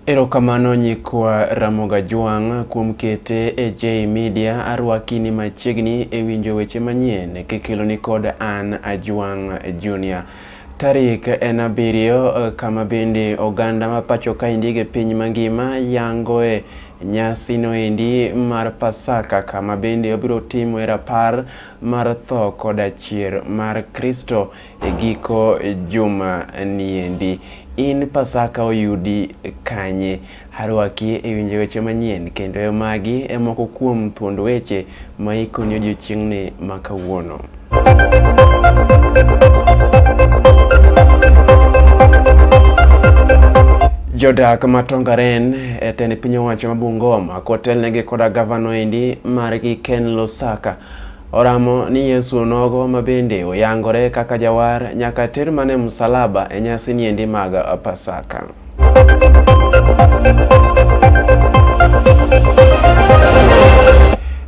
Erokamano nyikwa Ramoga Jwang' kuom kete e J Media arwakini machiegni e winjo weche manyien kikeloni kod an Ajwang' Junior. Tarik en abiriyo kama bende oganda ma pacho kaendi e piny mangima yangoe nyasino endi mar Pasaka kama bende obiro timoe rapar mar tho koda chier mar Kristo e giko juma niendi. In Pasaka oyudi kanye? Harwaki e winjo weche manyien kendo e magi e moko kuom thuond weche ma ikoni odiechieng'ni ma kawuono. Jodak ma Tongaren e tend piny owacho ma Bungoma Kotelnegi koda gavano endi margi Ken Lusaka. Oramo ni Yesu onogo ma bende oyangore kaka jawar nyaka ter mana e musalaba e nyasi ni endi mag Pasaka.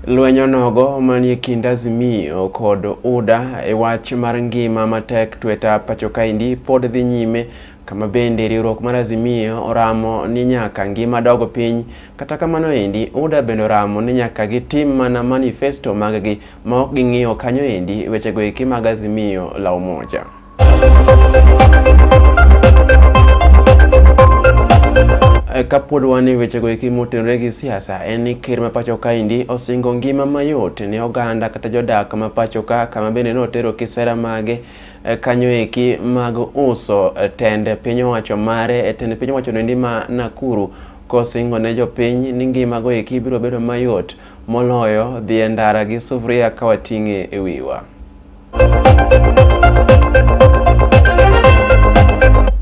Lweny onogo manie kind Azimio kod UDA e wach mar ngima matek tweta pacho kaendi pod dhi nyime Kama bende riwruok mar Azimio oramo ni nyaka ngima dogo piny, kata kamano endi UDA bende oramo ni nyaka gitim mana manifesto maggi ma ok ging'iyo kanyo endi wechego eki mag Azimio la Umoja. Eh, kapod wan e wechego eki motenore gi siasa en ni ker ma pacho kaendi osingo ngima mayot ne oganda kata jodak ma pacho ka kama bende notero kisera mage eh, kanyo eki mag uso eh, tend piny owacho mare eh, tend piny owacho noendi ma Nakuru kosingo ne jopiny ni ngima go eki biro bedo mayot moloyo dhi e ndara gi sufria ka wating'e e wiwa.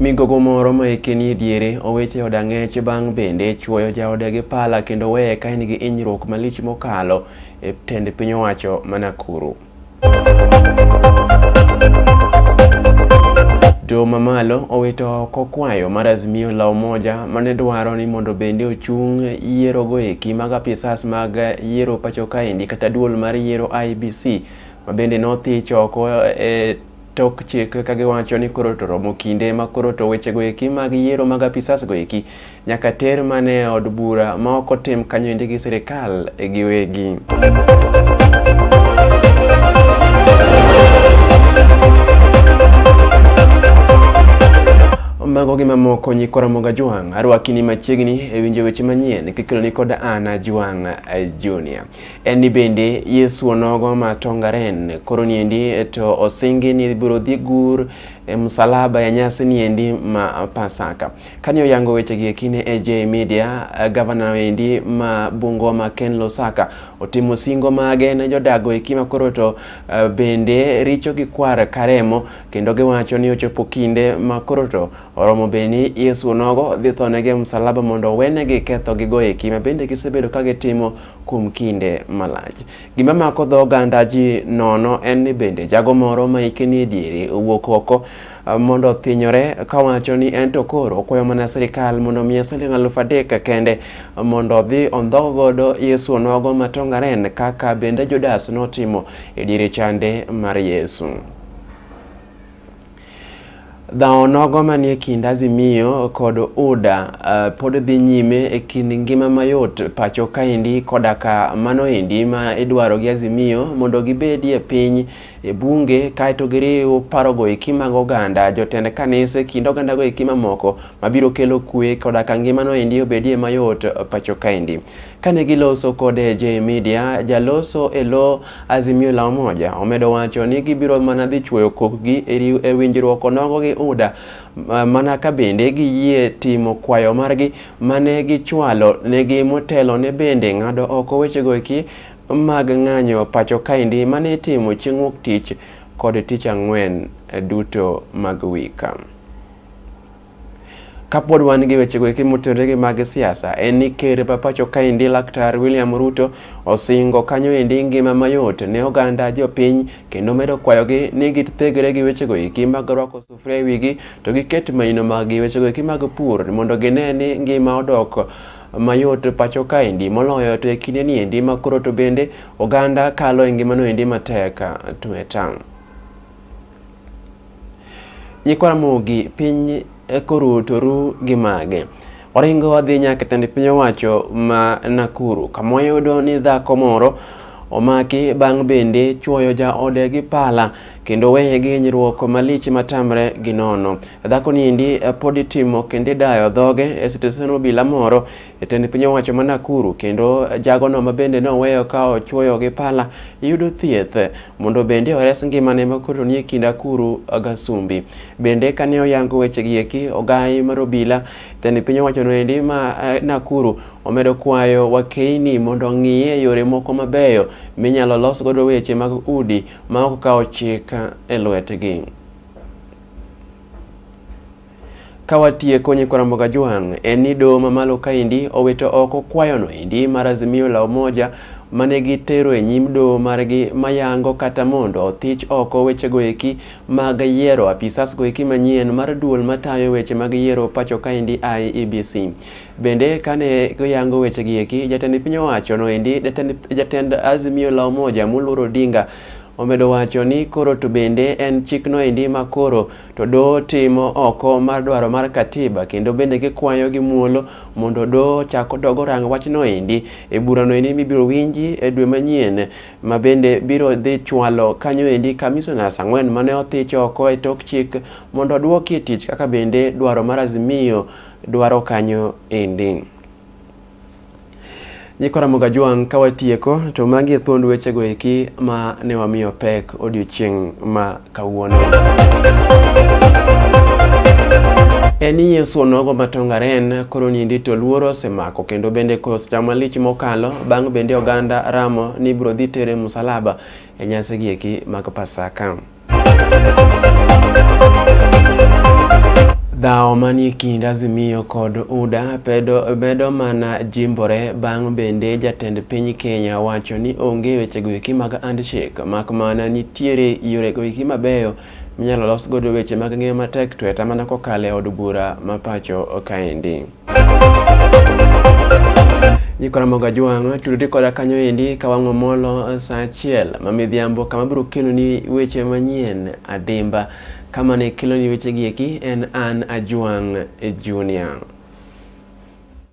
Migogo moro ma eke ni diere oweche od ang'ech bang' bende chuoyo jaode gi pala kendo weye ka en gi inyruok malich mokalo e tend piny owacho ma Nakuru. To mamalo owito oko kwayo mar Azimio la Umoja mane dwaro ni mondo bende ochung yiero go eki mag apisas mag yiero pacho kaendi kata duol mar yiero IBC ma bende nothich oko e tok chik ka giwacho ni koro to romo kinde ma koro to wechego eki mag yiero mag apisas go eki nyaka ter mane e od bura ma ok otim kanyoende gi sirikal e giwegi. mago gi mamoko nyikora moga jwang' arwakini machiegni e winjo weche manyien kikeloni kod ana jwang' junior en ni bende yesu onogo ma tongaren koro niendi to osingi ni ibiro dhi gur e msalaba ya nyasi niendi ma pasaka Kane oyango wechegi e kine e J Media, eh, gavana endi ma Bungoma Ken Lusaka otimo singo mage ne jodago eki ma koro to eh, bende richo gi kwar karemo kendo giwacho ni ochopo kinde ma koro to oromo be ni Yesu onogo dhi thonegi e msalaba mondo owenegi kethogigo eki ma bende gisebedo ka gitimo kuom kinde malach. Gima mako dho oganda ji nono en ni bende jago moro ma hike ni e diere owuok oko mondo othinyore kawacho ni en to koro okwayo mana sirikal mondo omiye siling alufu adek kende mondo odhi ondhog godo Yesu onogo matongaren kaka bende Judas notimo e diere chande mar Yesu. Dhawo nogo manie kind Azimio kod UDA uh, pod dhi nyime e kind ngima mayot pacho kaendi koda ka mano endi ma idwaro gi Azimio mondo gibedie piny e bunge kaeto giriw parogo eki mag oganda jotend kanise kind ogandago eki mamoko mabiro kelo kwe koda ka ngimano endi obedie mayot pacho kaendi. Kane giloso kode J Media, jaloso e lo Azimio la Umoja omedo wacho ni gibiro mana dhi chuoyo kokgi e winjruok onogo gi UDA mana ka bende giyie timo kwayo margi mane gichwalo negi motelo ne bende ng'ado oko wechego eki mag ng'anyo pacho kaendi mane itimo chieng' wuok tich kod tich ang'wen eh, duto mag wika. Kapod wan gi wechego eki motenore gi mag siasa en ni ker ma pacho kaendi laktar William Ruto osingo kanyo endi ngima mayot ne oganda jopiny kendo medo kwayogi ni githegre gi wechego eki mag rwako sufria e wigi to giket maino maggi wechego eki mag pur mondo gine ni ngima odok mayot pacho kaendi moloyo to e kinde ni endi ma koro to bende oganda kalo e ngimano endi matek tweta nyikwa Ramogi piny e koro to ru gi mage oringo wadhi nyaka tend piny owacho ma Nakuru kama wayudo ni dhako moro omaki bang' bende chuoyo jaode gi pala kendo weye gi hinyruok malich matamre gi nono. Dhako ni endi eh, pod itimo kendo idayo dhoge e sitesen obila moro e tend piny owacho ma Nakuru kendo eh, jagono ma bende ne oweyo ka ochuoyo gi pala yudo thieth eh, mondo bende ores ngimane ma koro nie kind akuru gasumbi. Bende kane oyango weche gi eki ogayi mar obila tend piny owacho no endi ma Nakuru omedo kwayo wakeini mondo ong'iye yore moko mabeyo minyalo los godo weche mag udi ma ok kawo chik e lwetgi. Ka watieko nyikwa Ramogi Ajwang', en ni doho mamalo kaendi owito oko kwayono endi mar Azimio la Umoja mane gitero e nyim doho margi mayango kata mondo othich oko wechego eki mag yiero apisas go eki manyien mar duol matayo weche mag yiero pacho kaendi IEBC. Bende kane goyango wechegi eki, jatend piny owacho noendi, jatend, jatend Azimio la Umoja Muluor Odinga omedo wacho ni koro to bende en chikno endi ma koro to doho timo oko mar dwaro mar katiba kendo bende gikwayo gi muolo mondo doho chak odog orang wachno endi e burano endi mibiro winji e dwe manyien ma bende biro dhi chwalo kanyo endi commissioners ang'wen mane othich oko e tok chik mondo odwoki e tich kaka bende dwaro mar azimio dwaro kanyo endi. Nyikwa Ramoga Jwang' ka watieko to magi e thuond wechego eki ma ne wamiyo pek odiochieng' ma kawuono. En ni Yesu onogo matongaren koro nindi to luoro osemako kendo bende kos chama lich mokalo bang' bende oganda ramo ni biro dhi tere musalaba e nyasi gi eki mag Pasaka. Dhawo manie kind Azimio kod UDA pedo bedo mana jimbore bang' bende jatend piny Kenya wacho ni onge wechego eki mag handshake mak mana nitiere yorego eki mabeyo minyalo los godo weche mag ngima matek tweta mana kokalo e od bura ma pacho kaendi. Jiko Ramogo Ajwang' tudori koda kanyo endi ka wang'o molo sa achiel ma midhiambo kama biro keloni weche manyien adimba. Kama ne keloni wechegi eki en an Ajwang' Junior.